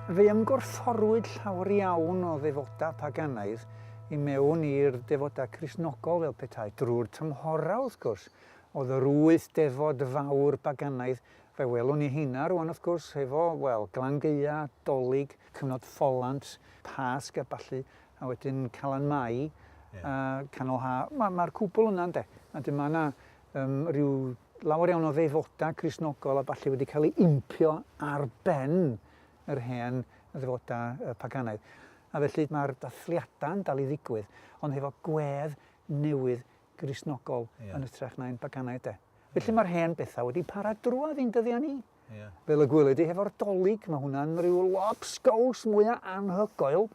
Fe ymgorfforwyd llawer iawn o ddefodau paganaidd i mewn i'r defodau Cristnogol fel petai, drwy'r tymhorau wrth gwrs, oedd yr wyth defod fawr baganaidd, fe welwn ni heina rwan wrth gwrs, hefo, wel, Glangeia, Dolig, cyfnod Ffolant, Pasg a ballu, a wedyn Calan Mai, yeah. a Canol Ha, mae'r ma cwbl yna, ynde? A dyma yna Yym, rhyw lawer iawn o ddefodau Cristnogol a ballu wedi cael ei impio ar ben yr hen ddefodau yy paganaidd. A felly mae'r dathliadau yn dal i ddigwydd, ond hefo gwedd newydd Gristnogol yeah. yn ytrach na'n paganaidd de. Felly yeah. mae'r hen bethau wedi para drwad i'n dyddiau ni. Yeah. Fel y gwyled i hefo'r dolyg, mae hwnna'n rhyw lobsgows mwyaf anhygoel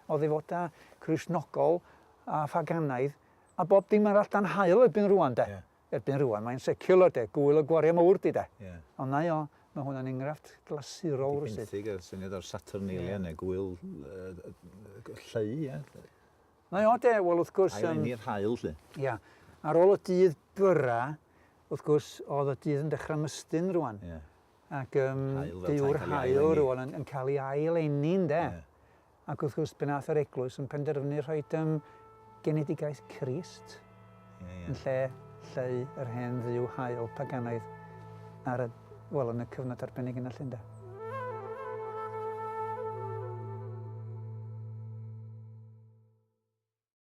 o ddefodau Cristnogol a phaganaidd A bob dim arall dan haul erbyn rwan 'de. Ie. Erbyn rwan mae'n seciwlar 'de, gŵyl y gwaria mowr 'di 'de. Ie. Ond 'na i o, ma' hwnna'n engrafft glasurol rywsut. Di benthyg a'r syniad o'r Saturnalia ne gŵyl lleu ie. 'Na i o 'de, wel wrth gwrs yym... Ail eni'r haul 'lly. Ia. Ar ôl y dydd byra, wrth gwrs, o'dd y dydd yn dechra mystyn rwan. Ie. Ac yym... Haul fel tai Calia Eni. ...dyw'r haul rwan yn yn ca'l 'i ail eni ynde? Ie. Ac wrth gwrs, pan aeth yr eglwys yn penderfynu rhoi yym genedigaeth Crist yn lle lleu yr hen dduw hael paganaidd ar y, wel, yn y cyfnod arbennig yna 'lly ynde?